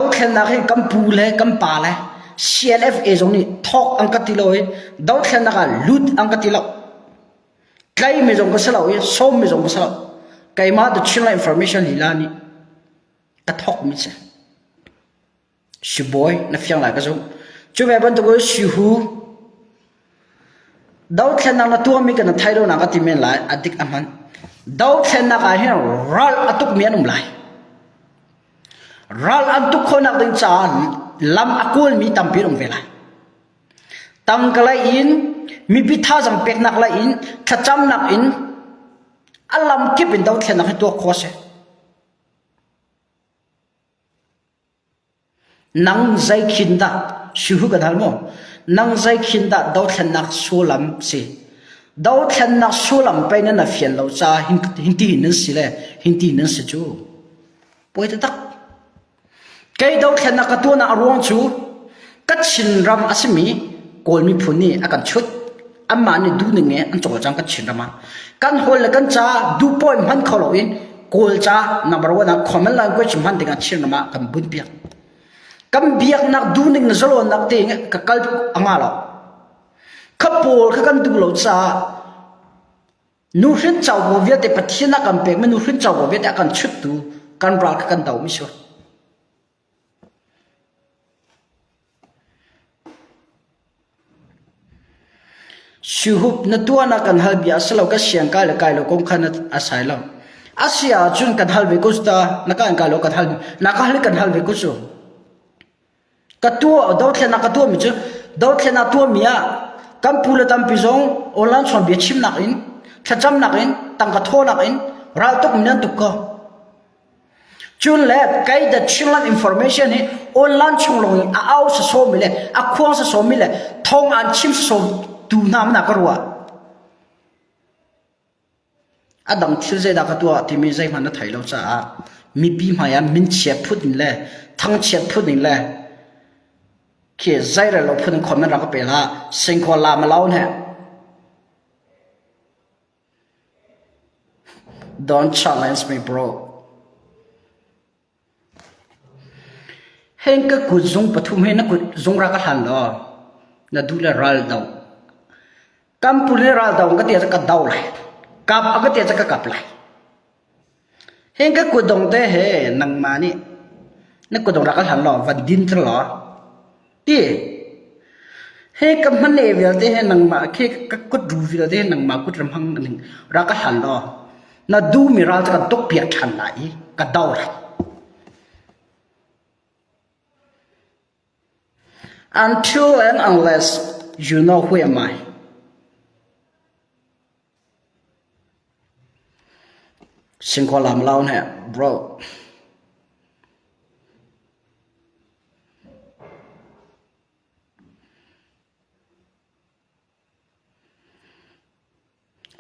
Dothlennak hi kan pu le kan pa le CLFA zong nih thawk an ka ti lo i dothlennak ah lut an ka ti lo. Tlaihmi zong ka si lo i sawmmi zong ka si lo. Keimah The Chinla Information Lila nih ka thawkmi si. Si bawi na fiang lai ka zumh. Cuve bantuk i si hu Dothlennak na tuahmi kan na thei lonak a ti men lai. A dik a hman. Dothlennak ah hin ral a tukmi an um lai. Ral an tuk khawhnak ding caah lam a kualmi tampi an um ve lai. Tangkalei in, mipi thazang peknak lei in, thlacamnak in, a lam kip in dothlennak hi tuah khawh a si. Nang zeikhin dah sihu kan hal maw? Nang zeikhin dah dothlennak sullam a si? Dothlennak sullam pei nan rak fian lo caah hintihin nan si le hintihin nan si cu. Puai taktak. Kei dothlennak ka tuahnak a ruang cu ka Chinram a simi Kawl miphun nih a kan chut. anmah nih duhning nge an cawl cang kan chinram ah kan hol le kan ca duhpawi hman kho lo in kawlca number one ah khoman line question hman ding ah chinram ah kan bunh piak kan biaknak duhning le zalonnak te nge ka kal anga lo kha pawl kha kan duh lo caah nu hrin chau bo viate pathian a kan pek ma nu hrin chau bo viate a kan chut tu kan ral kha kan do mi sure Sihup na tuahnak kan hal bia a si lo. Kan siang kai le kai lo kong kha na a sai lo. A si ahcun kan hal ve ko ta. Na kan kai lo kan hal. Na kan hal kan hal ve ko su. Ka tuah dothlen ka tuah mi cu dothlen a tuah mi ah kan pu le tampi zong online chon bia chimnak in thlacamnak in tangka thawnak in ral tuk mi nan tuk ko. Cun le kei The Chinland Information hi online chung lawng in a au sasawmi le a khuang sasawmi le thawng aan chim sasawmtu hna hmanh ah ka ruah. A dang thil zeidah ka tuah timi zeihmanh na thei lo caah mipi hmaiah minchiat phut in le thangchiat phut in le khi zeirel lo phun in khon nan rak ka pel ah sengkhual la ma laun he. Don challenge my bro. Heng ka kut zung pathum hi na kut zung ra ka hlan law na duh le ral dong. Kam pul le ral dong ka tia cu ka do lai. Kap a ka tia cu ka kap lai. Hin ka kutdong te he nangmah nih na kutdong rak ka hlan law van din cer law ti. Hi ka hman le vialte hi nangmah khi ka kut ru vialte hi nangmah kut ram hang ning rak ka hlan law na duhmi ral cu kan tukpiak ṭhan lai i ka do rak. An ṭhu eng unless you know who am I. Sin khua lam lau nih, bro.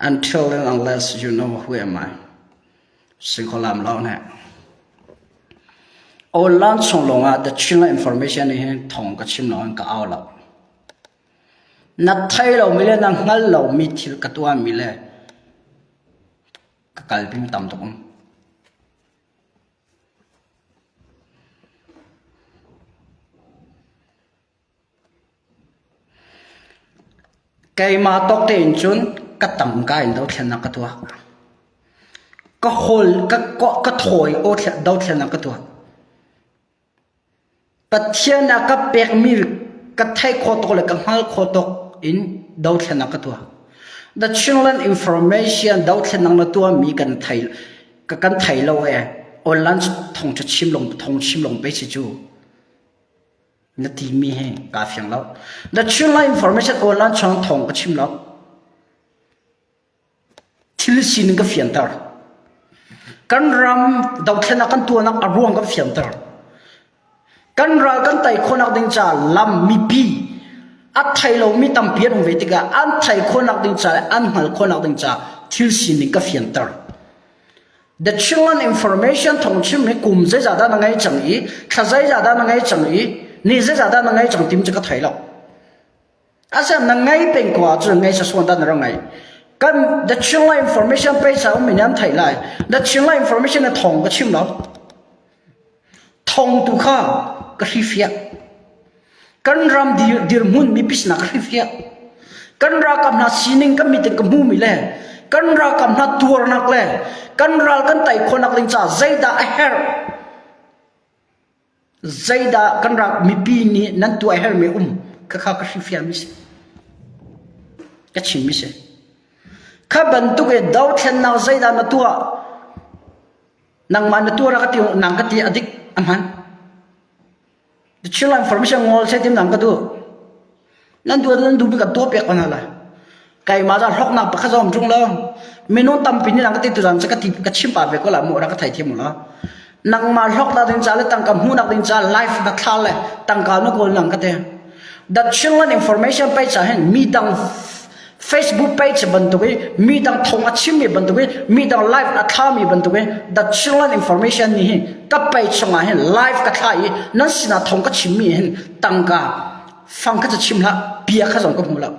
Until and unless you know who am I si kho lam lo ne. Online chung lawng ah The Chin Land Information nih hin thawng ka chim nain ka au lo. Na thei lomi le na hngal lomi thil ka tuahmi le ka kalpimi tam tuk um. Keimah tawk tein cun ka tamka in dothlennak ka tuah. Ka hol, ka, ka thawi aw dothlennak ka tuah. Pathian a ka pekmi ka theih khawh tuk le ka hngalh khawh tuk in dothlennak ka tuah. The Chinland Information dothlennak na tuahmi kan thei, kan thei lo ee. Online thong chim lung, thong chim lung pe si cu. Na timi hi kaa fiang lo. Na thilngaih information online chung thawng ka chim lo. Thil sining ka fianter. Kan ram dothlenak kan tuanak a ruang kan fianter. Kan ral kan tei khawnak ding ca lam mipi a thei lomi tampi an um ve tikah an thei khawnak ding ca le an hngal khawnak ding ca thil sining ka fianter. The Chingan Information thawngchim hi kum zeizah dah na ngei cang i thla zeizah dah na ngei cang i ni zeizah dah na ngei cang tim cu ka thei lo asem na ngei peng ko ahcun ngei sa suan da na ra ngai kan the Chinga Information page sa um min yan thai lai the Chinga Information na thong ka chim lo Thong tu kha ka hrifiah. Kan ram dirhmun mi pisnak ka hrifiah. Kan ralkap hna sining kan meeting ka hmumi le kan ralkap hna tuarnak le kan ral kan tei khawhnak ding caah zeidah a herh? Zeidah kan ral mipi nih nan tuah a herhmi um khakha ka hrifiahmi si. Ka chimmi si. Kha bantuk i dothlennak zeidah na tuah? nangmah na tuar ka ti nang ka ti adik ahman the children information ngol se tim nang ka tu nan duat nan du bi ka to pek ko na la kai ma da rok nang pakha zom chung lo minun tampi ni nang ka ti tu ran se ka ti ka chim pa ve ko la mo ra ka thai thiam la nangma rok da ding cha le tangka mu nak ding cha life da thla le tangka no ko nang ka te that children information pay cha hen mi dang Facebook page bantuk i midang thawng a chimmi bantuk i midang live a thlami bantuk i the children information ni hi ka page chungah hin live ka thla i nan sinah thawng ka chimmi hin tangka fang ka chim la bia kha zong ka hmu lo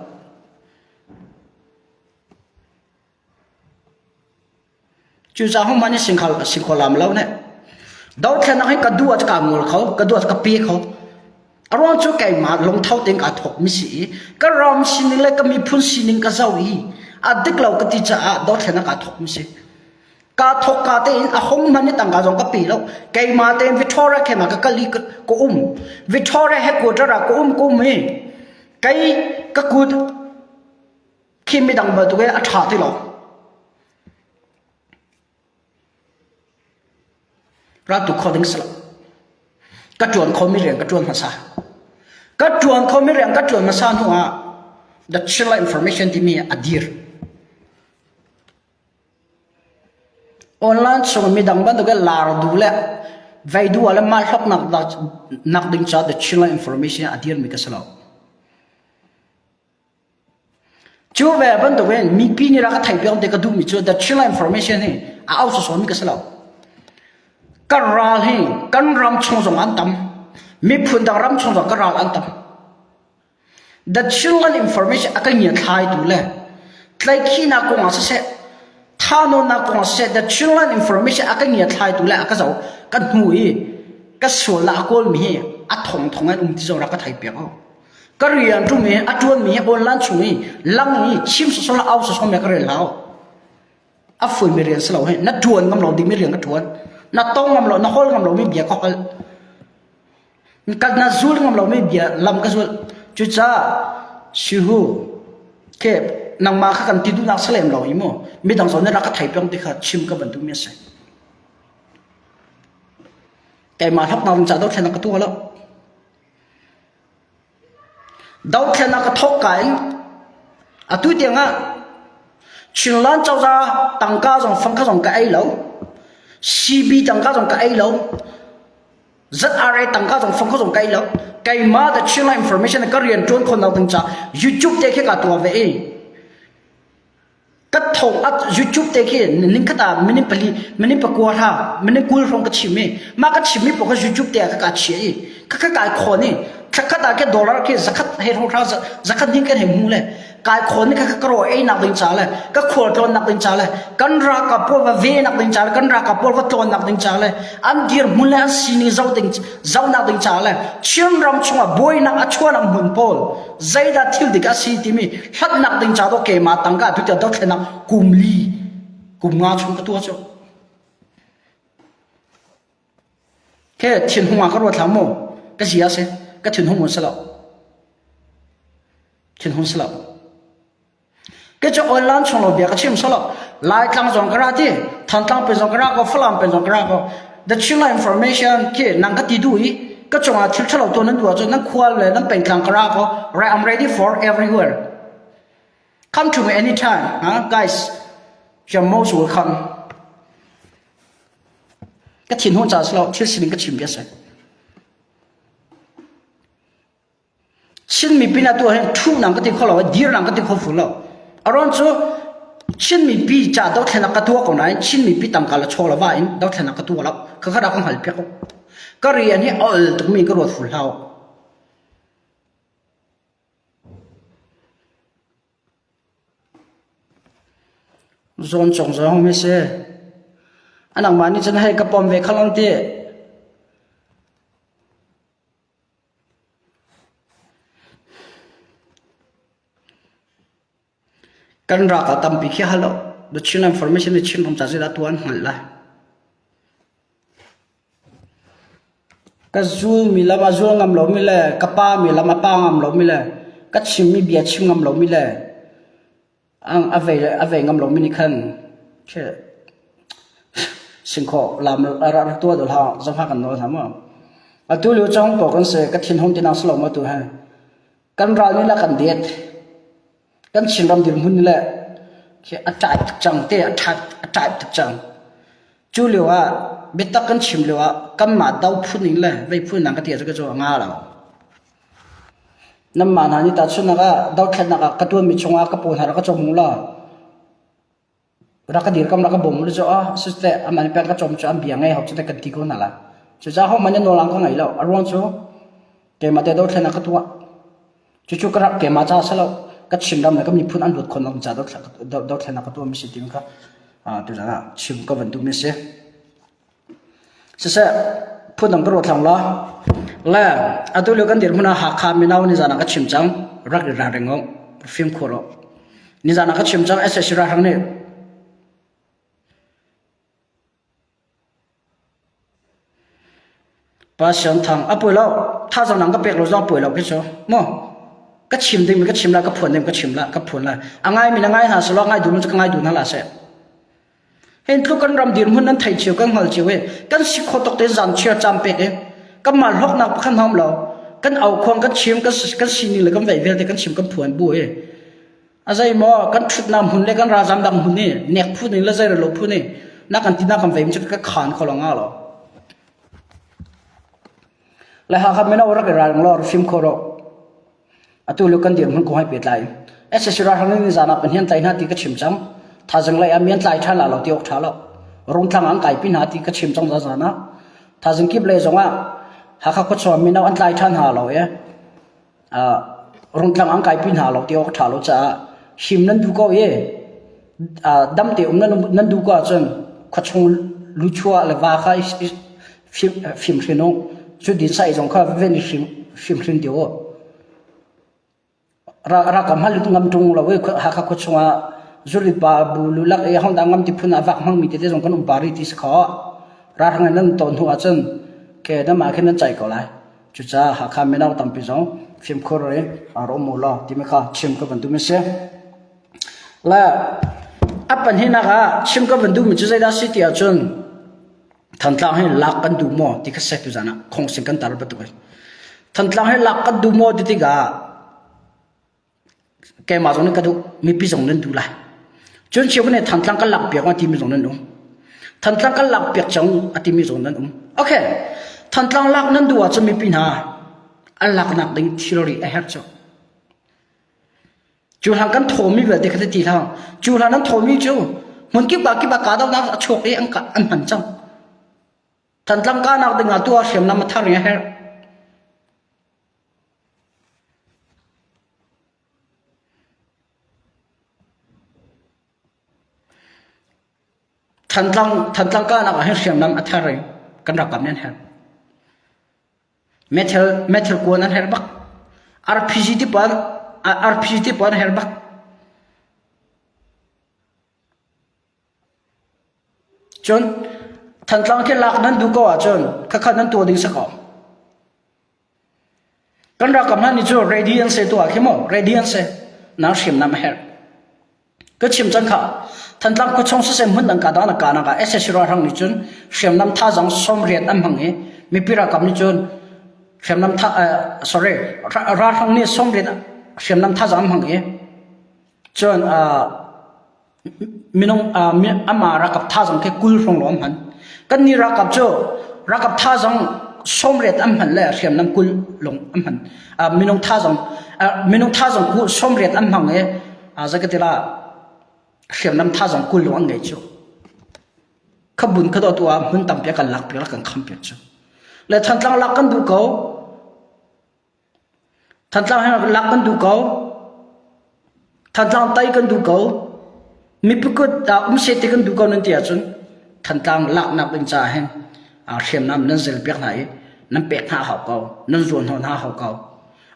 Cucaah hong man sing khal si kho lam lo ne. Dothlenak hi ka du a ka ngol kho, ka du a ka pe kho. Aruang cu keima lungtho ting a thok mi si i ka ram sining le ka miphun sining ka zo i a dik lo ka ti caah dothlenak a thok mi si. Ka thok ka te in a hong man ni tangka zong ka pi lo. Keima te Victoria kema ka kali ka um. Victoria headquarter ah ka um ka um i kai ka kut Khim midang bantuk i a ṭha ti lo. Rat tuk kho ding si lo. Ka ṭuan khomi rian ka ṭuan hmasa. Ka ṭuan khomi rian ka ṭuan hmasa hnu ah the chilla information timi a dir. Online chung midang bantuk i lar du le vei du le mal hlop nak nak ding ca the chilla information a dir mi ka si lo. Cu ve bantuk in mipi nih rak a theih piak ti ka duhmi cu the Chinland Information hi a au sawsawmi ka si lo. Kan ral hi kan ram chung zong an tam. Miphun dang ram chung zong kan ral an tam. The Chinland Information a kan ngiathlaitu le tlaihkhihnak kong ah siseh, thanuamnak kong ah siseh The Chinland Information a kan ngiathlaitu le a ka zoh kan hnu i ka sualnak a kawlmi hi a thongthong in um ti zong rak ka theih piak ko. Ka rian ṭum i a ṭuanmi a bawnlan chung i lang i chim sawsawm le au sawsawm he ka rel hau. A fuimi rian si lo hei. Na ṭuan ngam lo dingmi rian ka ṭuan. Na tong ngam lo, na hol ngam lomi bia ka hol. Ka na zul ngam lomi bia lam ka zul. Cucaah sihu ke nangmah kha kan ti duhnak si lem lo hi mu. Midang zawn nih rak ka thei piang ti kha chim ka bantukmi a si. Keimah hloknak in cah dawt thlen ka tua lo. Dohthen a ka thawk kai. Atu tiangah Chinland cozah tangka zong fangkha zong ka ei lo. CB tangka zong ka ei lo. ZRA tangka zong fangkha zong ka ei lo. Keima da Chinland information ka rian tuan khon lo ding ca YouTube te khi ka tuah ve i Ka tho up YouTube te khi nining khat ah minute pali minute pakua hra minute kul hrawng ka chim i mah ka chimmi paoh kha YouTube te ah ka kaa chiah i ka ka kai khawn i thlakhat ah khe dollar khe zakhat he hrawng hra zakhat hnih kan he hmu le kai khawn i ka ka ro ei nak ding ca le ka khual tlawn nak ding ca le kan ralkap pawl va ve nak ding ca le kan ralkap pawl va tlawn nak ding ca le an dir hmun le an sining zoh ding zoh nak ding ca le Chin ram chungah buainak a chuan am hmun pawl zeidah thil dik a si timi hlatnak ding ca do keimah tangka tutia dothlenak kum li kum nga chung ka tua cu ke thin hung ka ruat lam mo ka ji ase ka thin hung un salo thin hung salo Kecu oil lan chung lo bia ka chim solo. Lai tlang zong ka ra ti, Thantlang pe zong ka ra ko, Falam pe zong ka ra ko. The Chinla information khi nang ka ti du i ka cungah thil thalo to nan duwa cu nan khual le nan peitlang ka ra ko. Right, I'm ready for everywhere. Come to me anytime, huh? guys. You're most welcome. Ka thin hun cha slo, thil sining ka chim bia sai. Chinmi pinah tu ahhin thuhnang ka ti kho lo, dirnang ka ti kho full lo. Aron cu Chinmi pi ca dothlenak ka tua ko nain Chinmi pi tangka la chaw la va in dothlenak ka tua lo. Ka khada ka hngal piak ko. Ka rian hi ol tukmi ka ruat full hau. Zon chong zo hong me se. Anak ma nih cun hei ka pom ve khalong ti. Kan ralkal tampi khi a hal lo. The Chinland Formation le Chin ram ca zeidah tuah an hngalh lai? Ka zulmi lam a zul ngam lomi le ka pami lam a pa ngam lomi le ka chimmi bia chim ngam lomi le a vei ngam lomi nih khan singkhaw lam rak tuah dawh hlah zongha kan nawl hna maw? Atu lio cang ko kan se ka thinhung tinak si lo ma tu he kan ral nih la kan det kan Chinram dirhmun le a tlai tuk cang te a tlai tuk cang cu lio ah biatak kan chim lio ah kanmah do phun in le vei phun nang ka tia cu ka cu a nga lo Nanmah hna nih tahchunhnak ah dothlennak ah ka ṭuanmi chungah ka paw hna rak ka cawm u law rak ka dirkamh, rak ka bawm u law cucaah asiteh amah nih pek ka cawm cu an bia ngei hau cu teh kan ti ko hna lai. Cucaah hohmanh nih nawlrang ka ngei lo. A ruang cu keimah teh dothlennak ka tuah. Cucu ka rak keimah caah a si lo. Ka Chinram le ka miphun an luat khawhnak ding caah dothlennak ka tuahmi a si timi kha tuchan ah chim ka van duhmi a si. Siseh phundang ka ruat hlang lo. Le atu lio kan dirhmun ah Hakha mino nizaan ah ka chim cang rak i ralring u fimkhur u. Nizaan ah ka chim cang SSC ralhrang nih Pa Siang Thang a puai lo thazang nang ka pek lo zong puai lo khi cu mu ka chim ding mi ka chim la ka phuan ding ka chim la ka phuan la a ngai mi na ngai hna selaw ngai dun ka ngai dun hna la se hin thu kan ram dirhmun nan thei chiu kan ngol chiu e kan si kho tok te zan chia cham pek e kan mal hok nak pakhan hom lo kan au khong kan chim kan kan sini le kan vei vel te kan chim kan phuan bu e azai mo kan thut nam hun le kan rajam dang hun ni nek phu ni le zai lo phu ni na kan tina kan vei mi ka khan kholonga lo Le Hakha mino rak i ralring law rak fim khawh rawh. Atu lio kan dirhmun kong hai pehtlai. SSC ralhrang nih nizaan ah Pahnian tlai hna ti ka chim cang. Thaizing lei ah mian tlai ṭhan la lo ti awk ṭha lo. Rungtlang an kai pi hna ti ka chim cang zazaan ah. Thaizing kip lei zong ah Hakha khuachung ah mino an tlai ṭhan hna lo ee. rungtlang an kaipi hna lo ti awk a ṭha lo caah him nan duh ko i damte um nan duh ko ahcun khuachung luchuah le va kha i fim hrin u. Cu dinsai zong kha veven i fim hrin dih u. Rakam halut ngam ṭung lo i Hakha khua chungah zuri pa bu lulak i hongda ngam ti phun ah vak hmangmi tete zong kan um pari ti si kho. Ralhrang in nan ton hnu ahcun ke namah khin nan caih ko lai. Cucaah Hakha mino tampi zong fimkhur i aa rawm u law timi kha chim ka van duhmi a si. Le a pahnihnak ah chim ka van duhmi cu zeidah a si ti ahcun Thantlang hi lak kan duh maw ti kha sek tu zan ah khongsin kan tar bantuk a si. Thantlang hi lak kan duh maw ti tikah keimah zong nih ka duh mipi zong nan duh lai. Cun Cheukhat nih Thantlang kan lak piak uh a timi zong nan um. Thantlang kan lak piak cang a timi zong nan um. Okay, Thantlang lak nan duh ahcun mipi hna an laknak ding thilri a herh cu. Cu hlan kan thomi vialte ka ti hlang. Cu hlan an thomi cu hmun kip ah kip ah kahdohnak a chuak i an an hman cang. Thantlang ka nak dingah tu a hriamnam a thar i a herh. Thantlang kahnak ahhin hriamnam a ther i kan ralkap nih an her. Meithal kuan an her bak. RPG ti puan RPG ti puan her bak. Cun Thantlang khi lak nan duh ko ahcun khakhat nan tuah ding si ko. Kan ralkap hna nih cu ready an si tuah khi maw ready an si nan hrimnam a herh. Ka chim can kha Thantlang khuachung sisem hmun dang kadang na kana ka SSC ralhrang nih cun hriamnam thazang sawmriat an hmang i mipi ralkap nih cun hriamnam tha uh, sorry ra- ralhrang nih sawmriat hriamnam thazang an hmang i cun uh, Amah ralkap tha zong khi kul hrawng lawng an hman. Kannih ralkap cu ralkap tha zong sawmriat an hman le hriamnam kul lawng an hman. Minung tha zong minung tha zong sawmriat an hmang i zakatila hriamnam tha zong kul lawng an ngei cu. Khabun ka dawtu ah hmun tampi kan lak piak kan kham piak cu. Le Thantlang lak kan duh ko. Thantlang he lak kan duh ko. Thantlang tai kan duh ko. Mipi kut ah um seh ti kan duh ko nan ti ahcun Thantlang laknak ding caah hin aa hriamnam nan zel piak hna i nan pek hna hau ko. Nan zuan hnawn hna hau ko.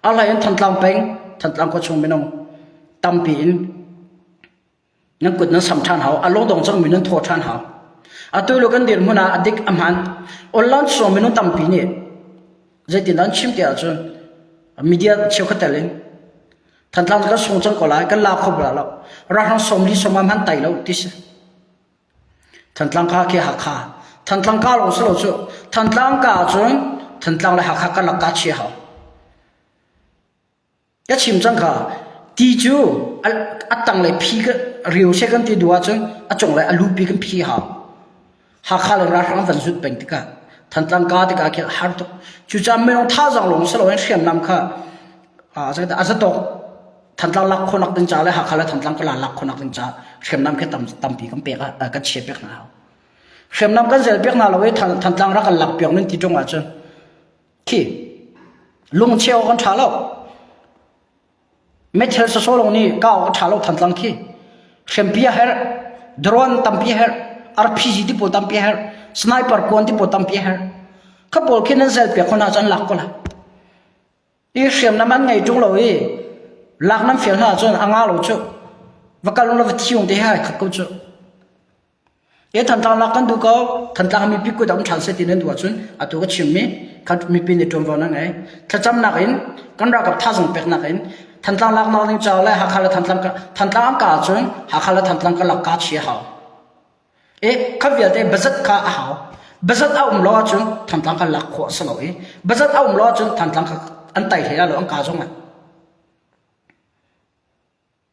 Arlai in Thantlang peng, Thantlang khua chung minung tampi in na kut na sam ṭhan hau a lodong cang mi nan thaw ṭhan hau a tuluk kan dirhmun ah a dik a hman online sawm minung tampi nih zeitin dan chim te ahcun media cheukhat tel in thantlang kan sung cang ko lai kan la kho bra lo ralhrang somli soma man tai lo ti si thantlang ka ke hakha thantlang ka long silo cu thantlang ka cun thantlang le hakha kan lakka chia hau ka chim cang kha ti cu a tanglei phi rio she kan ti duh ahcun a cunglei a lupi kan phi ha hakha le ralhrang van zut peng tikah thantlang ka tikah khin har tuk cucah minung tha zang lawng si loin hriamnam kha a zatok thantlang lak khonak ding ca le hakha le thantlang kala lak khonak ding ca hriamnam khi tampi kan pek kan chia pek hna hau hriamnam kan zel pek hna lo i thantlang rak kan lak piak nan ti ṭung ahcun khi lungcheu kan tha lo methel so so long ni kaw ka tha lo than tlang khi hrempia her drone tampi her rpg ti po tampi her sniper kuan ti po tampi her kha pol khin an sel pe khona chan lak ko la i hriam nam an ngai tung lo i lak nam fel hna chun anga lo chu vakal la va chiung te ha khat ko chu Ke thantlanglak kan duh ko. Thantlang ah mipi kut a um ṭhan seh ti nan duh ahcun atu ka chimmi kha mipi nih ṭuanvo nan ngei. Thlacamnak in kan ralkap thazaang peknak in Thantlang laknak ding caah le Hakha le Thantlang ka Thantlang an kah ahcun Hakha le Thantlang karlak kaa thi a hau. I kha vialte bazat kha a hau. Bazat a um lo ahcun Thantlang kan lak khawh a si lo i bazat a um lo ahcun Thantlang kha an tai hlei lo an ka zong lai.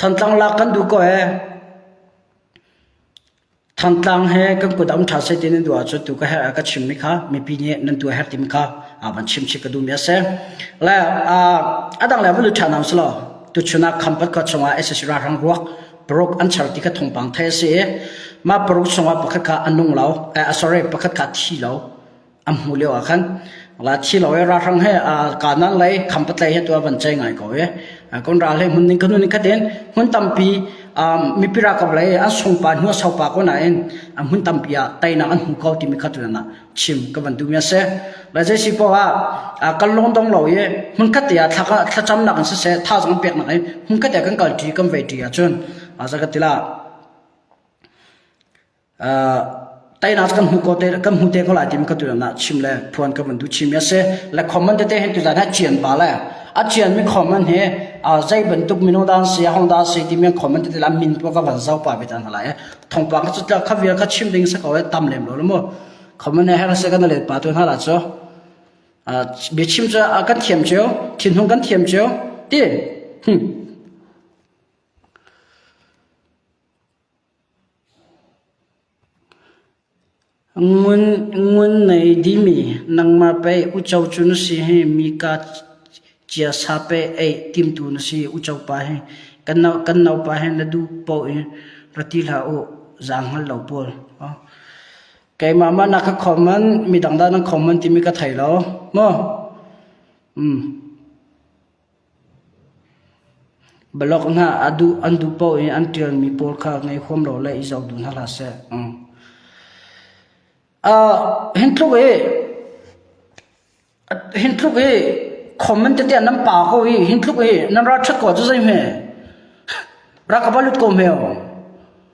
Thantlang lak kan duh ko ee. Thantlang he kan kut am ṭha sei ti nan duh ahcun tu ka herh ka chimmi kha mipi nih nan tu a herh timi kha aa van chim chik ka duhmi a si. Le a dang le va lut ṭhanam si law tuchun ah Khampat khua chungah SSC ralhrang ruak paruk an char ti kha thawngpang theih a si i mah paruk chungah pakhat kha a nung lo a sorry pakhat kha thi lo an hmuh lio ah khan la thi lo i ralhrang he kanan lei khampatlei he tu van chai ngai ko i kon ral he hmun ning kanu ning khatin hmun tampi mipira kap lei an sungpa hnu saupa ko na in hmun tampi ah tainak an hmu ko timi kha tu na chim ka van duhmi a si. Lai zeisi poh ah kan lawng dong lo i hmunkhat te ah thlacamnak in siseh thazong peknak in hmunkhat te kan kalṭi kan veihṭi ahcun za ka tila tainak kan hmu ko te kan hmu te ko lai timi ka tu na chim le phuan ka van du chimi a si le comment te hen tu dan ha chian pa le a chian mi comment hi a zei bantuk mino dan si hong da si ti mi comment te la min tua ka van zau pa betan hala e thongpang cu tla kha vial kha chim ding sak awai tam lem lo mu khoman ne her se kan le pa tu na la cho a bia chim cho a kan thiam cheu thin hung kan thiam cheu ti hm Ngun nei dihmi nangmah pei uco cu na si hi mi ka ciasa pei ei timtu na si uco pa hi kan naupa hi na duh poh i ra ti hlah u zaa hngal lo pawl. Keimah mah na ka khawm man mi dangdang nan khawm man timi ka thei lo maw? Balok hna an duh paoh i an ṭialmi pawl kha ngei huam law le i zoh duh hna hlah seh. Hi tluk hi khom nan titiah nan pa ko hi hi tluk hi nan ralṭhat ko cu zeihme? Ra ka va lut ko hme aw.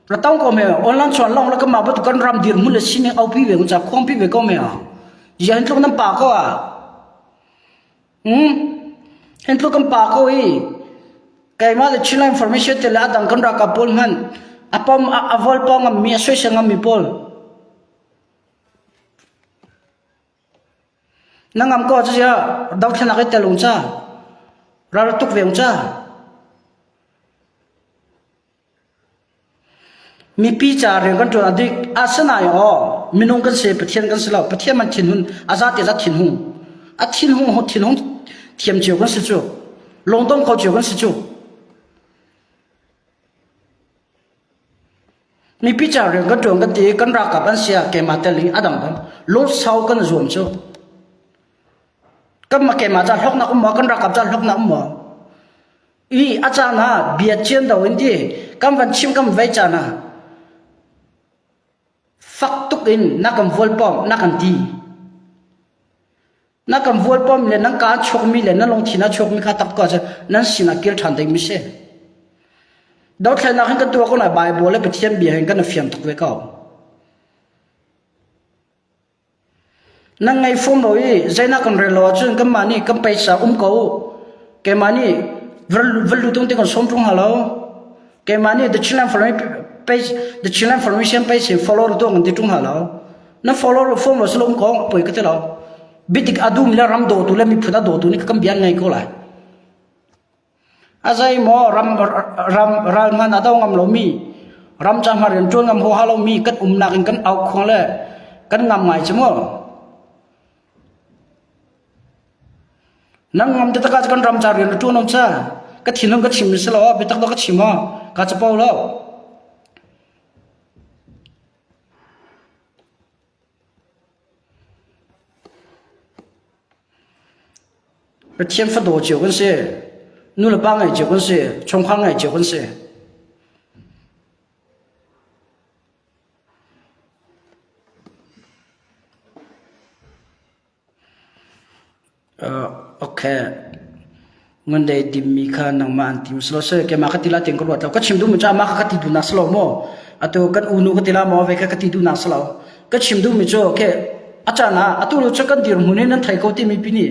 Ra tong ko hme aw. Online suan lawng le kanmah bantuk kan ram dirhmun le sining aupi ve kun ca khuangpi ve ko hme aw. Ziah hi tluk nan pa ko ah? Hin tluk kan pa ko i keimah le Chinland Information tiah le a dang kan ralkap pawl hmanh a pom a vol pawng ngammi a suaisai ngammi pawl na ngam ko cu cia dothlenak i telung ca raltuk veng ca Mipi caah rian kan ṭuan a dik. Asinain aw minung kan si, Pathian kan si lo. Pathian man thinhun a zate zat thinhung. A thinhung ho thinhung thiam cio kan si cu. Lungdong kho cio kan si cu. Mipi caah rian kan ṭuan kan ti i kan ralkap an sia keimah tel in a dang bang lawnsau kan zuam cu. Kanmah keimah caah hloknak um maw, kan ralkap caah hloknak um maw? I a caan ah bia cian do in ti kan van chim kan vei caan ah fak tuk in na kan vual pom na kan ti na kan vual pom le nan kaa chokmi le nan lungthin a chokmi kha tak ko cu nan sin a kil ṭhan ding mi si dothlennak hin kan tuah ko na bible le pathian bia hin kan fiam tuk ve ko Nan ngei fum lo i zeinak kan rel lo ahcun kanmah nih kan peisa um ko. Keimah nih va lut ding kan sawm ṭung hnga lo. Keimah nih The Chinland Formation peisin follower dawh kan ti ṭung hnga lo. Nan follower fum lo silom ko poi ka ti lo. Bitik a dum le ram dawtu le miphun a dawtu nih kan bian ngai ko lai. A zeimaw ral ngan a do ngam lomi, ram cangah rian ṭuan ngam huaha lomi kan umnak in kan auk khuang le kan ngam ngai cu maw? Nan ngam tikah kan ram ca rian a ṭuan awm sa? Ka thinlung ka chim si lo, biatak do ka chim aw, ka capo lo. Pathian fadaw cio kan si. Nulepa ngeih cio kan si. Chungkhar ngeih cio kan si. Okay. Ngan dei dim mi kha nangmah an tim silo seh keimah ka tila tiang ka ruat lo. Ka chim duh mu caah ma ka ti duhnak silo maw? Atu kan unu ka tila maw ve ka ka ti duhnak silo. Ka chim duh mi cu okay. A caan ah atu lu cu kan dir hmun in nan thei ko timi pi nih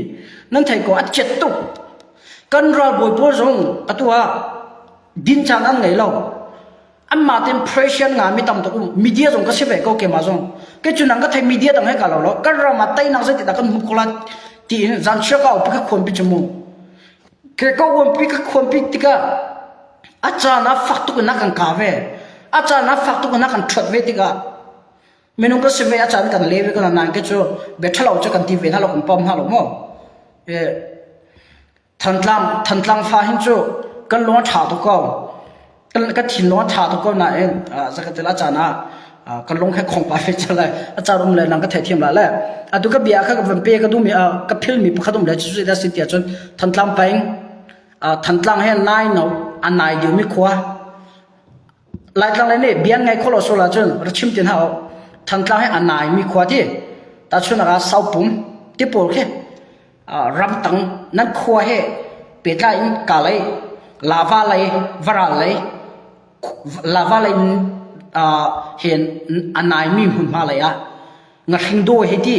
nan thei ko a chet tuk. Kan ralbawi pawl zong atu ah din caan an ngei lo. anmah tin pressure nga mi tam tuk um media zong ka si ve ko ke ma zong ke chu nang ka thai media dang he ka lo lo kan ram a tai nak zai ti da kan hum kola ti in zan shia ka pi ka khon pi chumu ke ko won pi ka khon pi tika acha na fak tu na kan ka ve acha na fak tu na kan thot ve tika menung ka sime acha kan leve kan nan ke chu be thalo che kan ti ve na lo kum pam na lo mo e Thantlang fa hin cu kan lung a ṭha tuk ko. Ka thinlung a ṭha tuk ko nain zakhatel a caan ah kan lung he khawng pa fe cang lai. A car um le nang ka theithiam la le. Atu ka bia kha ka van pe ka duhmi ka philmi pakhat um le cu zeidah a si tiah cun Thantlang peng Thantlang he nai no a nai liomi khua Laitlang le nih biang ngei khawh lo sual ahcun ra chim ti hna u. Thantlang hi a naimi khua ti. Tahchunnak ah Saupum ti pawl khi ramtang nan khua he pehtlai in kalei lava lei varal lei lava lei hin a naimi hmunhma lei ah na hringdaw he ti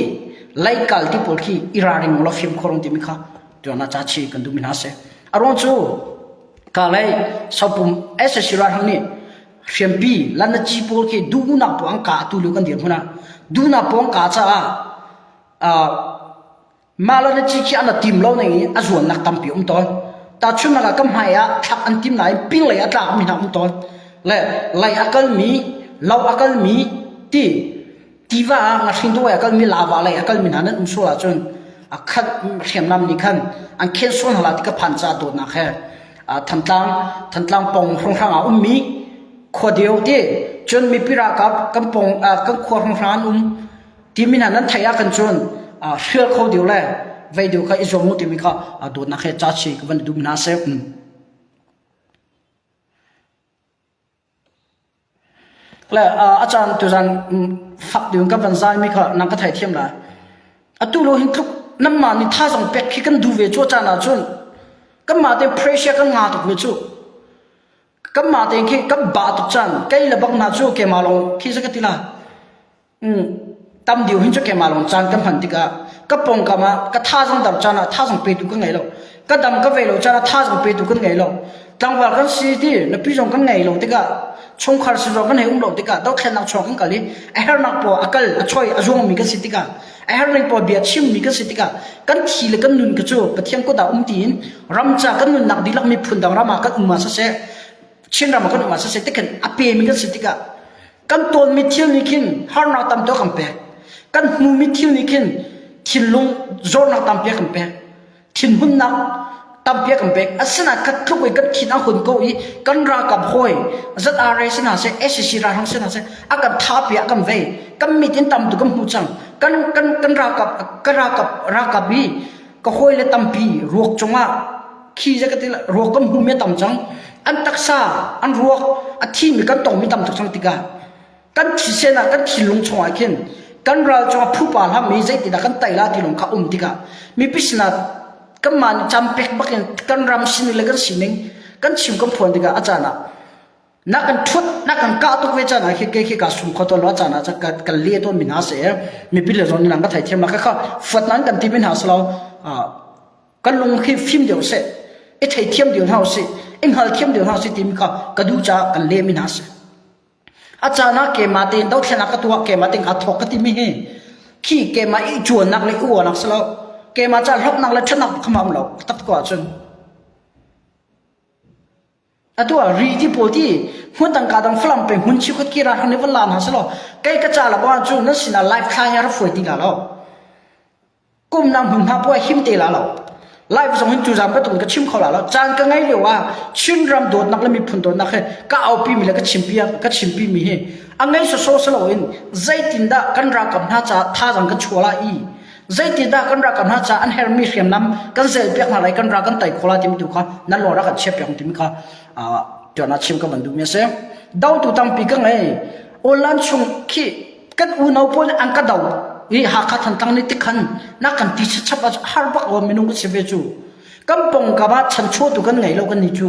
laikal ti pawl khi i raring law fim khorong timi kha tuana cha chi kan dum hna se arong cu ka lei sopum SSC ra hang ni hriampi lan na chi pawl khi du na pong ka tu lu kan dir huna du na pong ka cha a Mah le na ci khi a na tim lo ning i a zualnak tampi a um tawn. Tahchunhnak ah, ka hmai ah thlak an tim nain pinglei a tlakmi hna a um tawn. Le lei a kalmi, lo a kalmi, ti tiva ah ngahring dungei a kalmi, lava lei a kalmi hna nan um sual ahcun a khat hriamnam nih khan an khen sual hna la ti ka phan caah dawtnak he uh, Thantlang Thantlang pong hrawnghrang ah ummi khua deu te cun mipi ralkap kan pong uh, kan khua hrawnghrang an um Ti min ah nan theih ah kan cun hrial kho deu le vei deu kha i zuam u timi kha dawtnak he ca chi ka van dum hna seh. Le a caan tu zan fak deu ka van zai mi kha nang ka thei thiam la. Atu lo hin tluk nam ma ni tha zong pek khi kan du ve chu caan ah cun kan ma te pressure kan nga tuk ve chu kan ma te khi kan ba tuk chan kai le bak na chu ke ma long khi zakatila Tam deu hin cu keimah lawng caan ka hman tikah ka pawngkam ah ka thazang dam caan ah thazang petu kan ngei lo. Ka dam ka vei lo caan ah thazang petu kan ngei lo. Tlangval kan si ti napi zong kan ngei lo tikah chungkhar si zong kan hei um lo tikah dothlennak chuak kan kal i a hernak paw a kal a choi a zuangmi kan si tikah a hernak paw bia chimmi kan si tikah kan thi le kan nun ka cu Pathian kut ah um tiin ramca kan nunnak dihlak miphun dang ram ah kan um ah saseh Chin ram ah kan um ah saseh tikhan a pemi kan si tikah kan tawnmi thil nih khin harnak tamto kan pek kan hnumi thil nih khin thinlung zornak tampi kan pek thinhunnak tampi kan pek asina kat tluk i kan thin a hun ko i kan rakam hoi zat are sina se SCC ra rang sina se a kan tha pi a kan vei kan mit in tam tu kan hmu chang kan kan kan rakap ka rakap rakap i ka hoi le tampi ruak chungah khi za ka ti ruak kan hnu me tam cang an taksa an ruak a thi mi kan tong mi tam tuk cang tikah kan thi sen ah kan thi lung chung ah khin kan ral chung a phu pa hlam mi zei ti dah kan tai la ti lung kha um tikah mi pisna kan man cham pek bak in kan ram sin le kan sining kan chim kan phuan tikah a caan ah na kan ṭhut na kan kah tuk ve caan ah khi kei khi ka sum kho to lo caan ah kan kan le ton mi hna se mipi le zon lang ka thai thiam la ka kha fat nan kan ti bin ha slo kan lung khi phim deu se i thei thiam deu hau si in hal thiam deu hau si tim ka ka du cha kan le mi hna se a caan ah ke ma te do thlena ka tua ke ma ting a thok ka ti mi hi khi ke ma i chuan nak le u nak slo ke ma cha hlok nak le thanak khama lo tap ko chun atu ah ri ti pawl ti hmun tangka dang falam pe hmun chikhot kira han le von la hna selaw kei ka ca la ba cu nan sinah live thla he ra fuai ti la lo kum nang hmun hna puai him te la lo live zong hin tu zam pe tung ka chim kho la lo caan ka ngai leo ah chin ram dawt nak le miphun dawt nak he ka aupi mi le ka chimpi ka chimpi mi he a ngai so so selo in zeitin dah kan ra kam hna ca tha zang ka chuala i Zeitindah kan rak kan hna caah an hermi hriamnam kan zelpiak hna lai kan ra kan tei kho lai timi tu kha nan lawng rak kan chiah piak timi kha ṭialnak chim ka van duhmi a si. Dotu tampi ka ngei. Online chung khi kan unau pawl nih an ka do i Hakha Thantlang nih tikhan na kan ti chap a har bak lo minung ka si ve cu. Kan pongkam ah chanchuah tu kan ngei lo kan ni cu.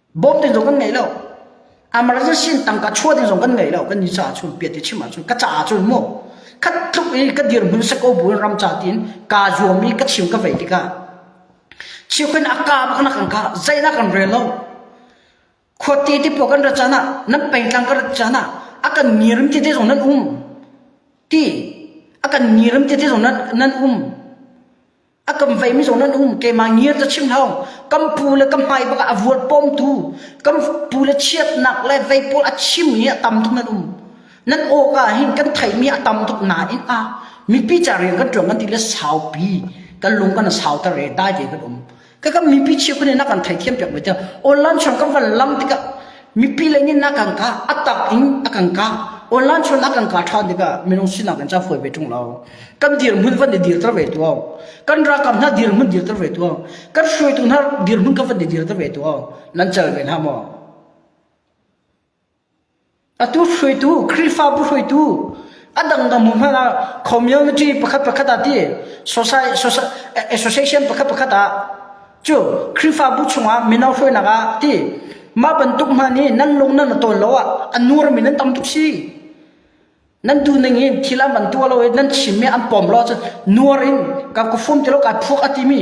bawm ding zong kan ngei lo emergency tangka chuah ding zong kan ngei lo kan ni sa chun piat ti chim ahcun ka ca ahcun mu khat tluk i ka dirhmun seko bul ram ca tin ka zuam i ka chim ka vei tikah chiokhin aka bak nak kan ka zeinak kan rel lo khuati ti po kan ra cana nan peitlang ka ra cana akan ngirim ti te zong nan um ti akan ngirim ti te zong nan nan um a kam veimi zong nan um keimah ngiar cu chim hau kam pu le ka hmai bak ah a vuar pawmtu kam pu le chiatnak le vei pawl a chim i a tam tuk nan um nan awk ah hin kan theimi a tam tuk nain a mipi ca rian kan tuan kan ti le saupi kan lung kan sau ta re dai ve kan um ka kam mipi chiu kan na kan thei thiam piak mai ta online chang kan van lam tikah Mipi lei nih na kan kah a tak in a kan kah online chon a kan kah than tikah minung sinak in ca fawi ve tung lo kan dirhmun van i dir ter ve tu kan rakam hna dirhmun dir ter ve tu kan hruaitu hna dirhmun ka van i dir ter ve tu nan chal ve na maw atu hruaitu krifabu hruaitu adangdang mu hmana community pakhat pakhat ati society association pakhat pakhat ah cu Khrihfabu chungah mino hruainak ah ti mah bantuk hna nih nan lung nan tawn lo ah an nu ram in nan tam tuk si nan du ning in thil an van tuah lo i nan chim mi an pom lo cun nuar in ka ku fum ti lo ka phuak a ti mi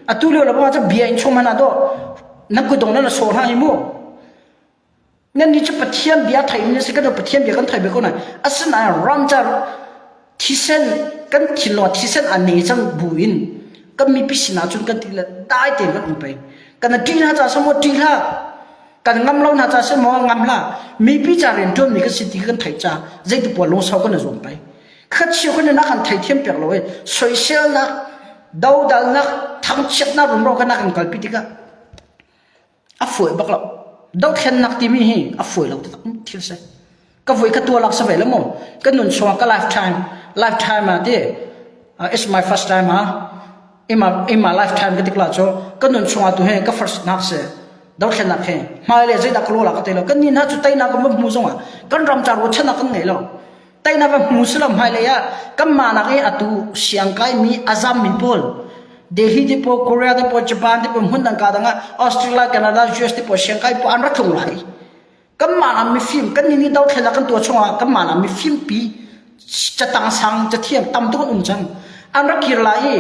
atu lio le bang cun bia in chung hmana do nan ku dong nan sor hna hi mu Nannih cu Pathian bia theimi na si kan Pathian bia kan thei ve ko nain asinain ramcar thisen kan thinlung thisen aan nei cang bu in kan mipi sinah cun kan ti le dai tein kan um peng kana ṭih hna ca samaw ṭih hlah kan ngam lo hna ca samaw ngam hlah mipi ca rian ṭuanmi kan si ti kan theih ca zeitipoah lungsau kan i zuam pei kha chio kan nak an theithiam piak lo i soiselnak dodalnak thangchiatnak rumro kan nak an kalpi tikah a fawi bak lo. Dohthlennak timi hi a fawi lo taktak thil si. Ka voi ka tualak sa ve lo mu. Ka nun chung ka lifetime, lifetime ah ti, uh, it's my first time ha. In my, in my lifetime ka tikla cu, ka nun chung ah tu he ka first nak si. Dohthlennak he. Hmai le zeidah ka lola ka te lo. Kan ni na cu tai na ka mu zong ah, kan ram tar wo chan kan ngei lo. teinak a hmu si lo hmailei ah kanmah nak i atu siangkaimi azam min pawl Delhi ti po Korea ti po Japan ti po hmun dang ka dang ah Australia Canada US ti po siangkai po an ra thung lai kanmah am mi film kan ni ni dau thlela kan tua chunga kanmah am mi film pi cha tang sang cha thiam tam tu um chang an ra kir lai i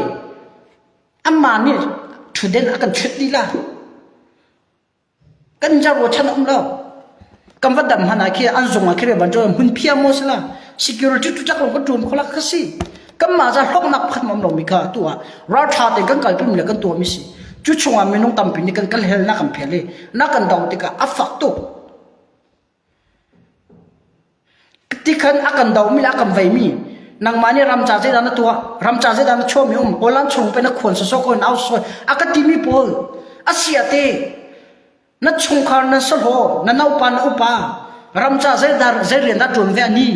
amma nih thuden akan chut dila kan jar ruachan a um lo kan va dam hlan ah khi an zung ah khi ban cu hmun phiang maw sila security tu chak lo kan ṭum kholak ka si kan mah za hloknak pakhat mam lo mi kha tu ah ralṭha ten kan kal pimi le kan tuah mi si cu chung ah minung tampi nih kan kan helnak kan phel i na kan do tikah a fak tuk Tikhan a kan dohmi le a kan veimi nangmah nih ramca zeidah na tuah ramca zeidah na chuahmi um Holland chung pe na khuan sosok ko nau soi a ka timi pawl a sia te na chungkhar na solo na naupa na upa ramca zeidar zei rian dah tuan ve ani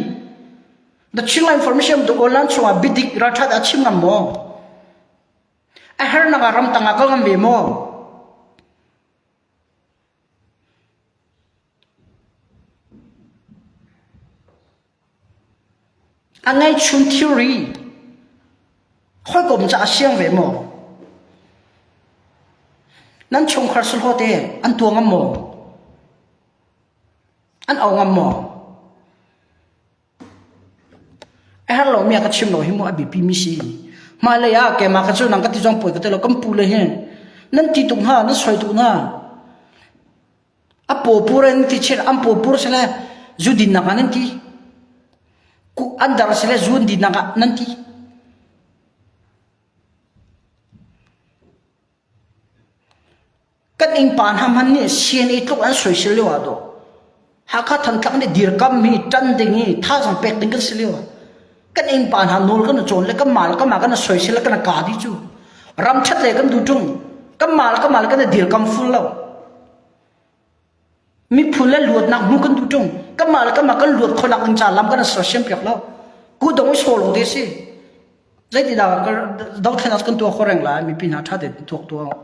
na ching la information tu Holland chungah bidik rathat a chim ngam maw a har nanga ram tanga kal ngam ve maw A ngeihchun thilri hawikom caah a siang ve maw? Nan chungkhar sulhaw te an tua ngam maw? An au ngam maw? A har lomi a ka chim lo hi mu a biapi mi si. Mah lei ah keimah ka cu nang ka ti zong poi ka ti lo kan pu le hin nan ti tung ha nan soi tung ha A pawpur in ti chiat an pawpur sile zu dinnak ah nan ti. An dar sile zu an dinnak ah nan ti. Kan ing pan ham han nih CNA tluk an soisel lio ah do. Hakha Thantlang nih dirkam hi tan ding hi thazang pek ding kan si lio. kan innpa hna nawl kan i cawn le kanmah le kanmah kan i soisel le kan i ka di cu ram ṭhat le kan duh ṭung kanmah le kanmah le kan i dirkam ful lo miphun le luatnak hmu kan duh ṭung kanmah le kanmah kan luat khonak ding ca lam kan i soisem piak lo ku dong i so lo te si zeiti dah dothlen as kan tuak khoreng lai mipi hna ṭha te tuak tuak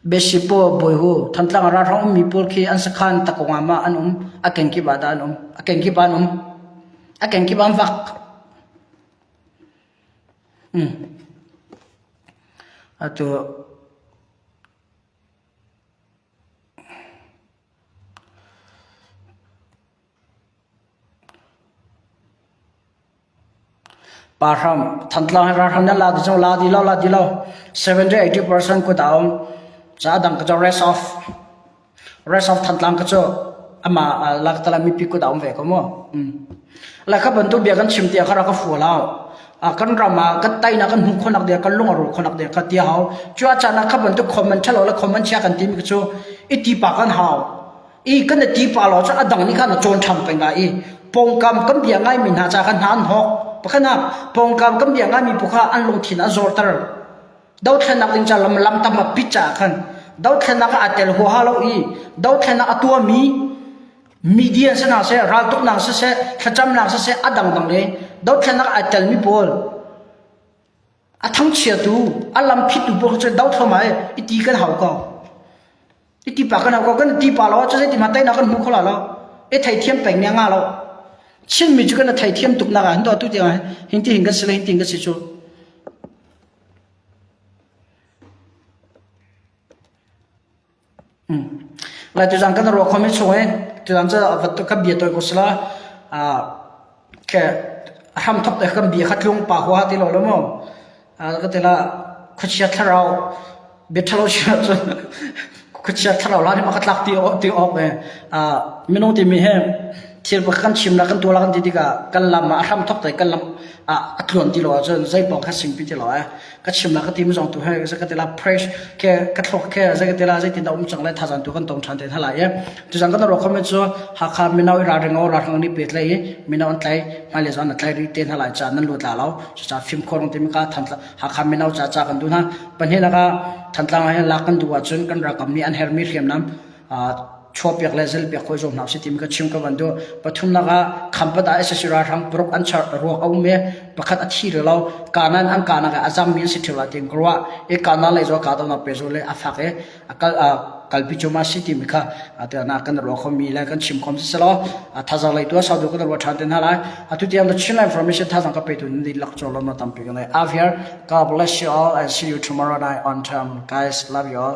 Biashipaw bawi hu, Thantlang ah ralhrang ummi pawl khi an sakhan takawngam ah an um. A kenkip ah dah an um? A kenkip ah an um. A kenkip ah an vak. Hmm. Atu Thantlang hi ralhrang nih an la ti cu la ti lo la ti lo seventy eighty percent kut a um caah dang ka cu rest of rest of Thantlang ka cu amah laktal ah mipi kut a um ve ko mu la ka bantuk bia kan chim tiah ka rak ka fual hau kan ram ah kan tainak kan hmuh khonak dia kan lung a ru khonak dia ka tia hau cua caan ah ka bantuk comment thalo la comment chia kan ti mi ka cu i ti pa kan hau i kan i ti pa lo cun a dang nih khan a cawn ṭhan peng lai i pawngkam kan bia ngaimi hna ca khan hna an hawk pakhat ah pawngkam kan bia ngaimi phu kha an lungthin a zorter dothlennak ding ca lam lamtam a pit caah khan dothlennak ah aa tel huaha lo i dothlennak a tuami media si hna seh raltuknak si seh thlacamnak si seh a dangdang le dothlennak ai telmi pawl A thangchiatu a lamphittu paoh cu do thluam ai i ti kan hau ko. I ti pa kan hau ko kan ti pa lo cu zeiti ma teinak kan hmu kho la lo i theithiam peng ne nga lo Chinmi cu kan theithiam tuk nak ah hin to atu tiang ah hin ti hin kan si le hin ti hin kan si cu Lai tuzang kan ruak khomi chung hi tuzang cu kan bia tawi ko sila a hramthok te kan bia kha tlung pa hua ti lo lo maw? Ka ti lah khuachia thlarau biaṭhalo chungah cun khuachia thlarau hla nih mah kha tlak ti awk ve. Minung timi hi thil pakhat kan chimnak kan tuah la kan ti tikah kan lam ah a hramthok te kan lam a tluan ti lo ahcun zei pawng kha singpi ti lo ee. ka chim la ka tim zong tu he ka ka tila praise ke ka thlok ke zai ka tila zai tin da um chang lai tha zan tu kan tong than te tha lai ye tu zang kan ro khom chu ha kha minau ra ring o ra rang ni pet lai minau an tlai ma le zan tlai ri te na lai cha nan lu tla lao cha phim khorong te mi ka than ha kha minau cha cha kan du na pan he na ka than tlang hai la kan du wa chun kan ra kam ni an her mi hriam nam chaw pek le zal pek hawi zong hna usih timi ka chim ka van duh pathum lakah khampat ah SSC ralhrang paruk an char ruak a um i pakhat a thi rih lo kanan an kanak ah a zang mi an si ṭhirla ti ka ruah i kanan lei zo ka dawnak pe zo le a fak i a kal kalpi cu ma si timi kha te na kan ruak khomi le kan chim khom si selo thazang lei tu saudi ko ruwa ṭhan ten hna lai atu tiam the Chinland information thazang ka pe tu ni lak cho lo ma tam pe ne avir god bless you all and see you tomorrow night on time guys love you all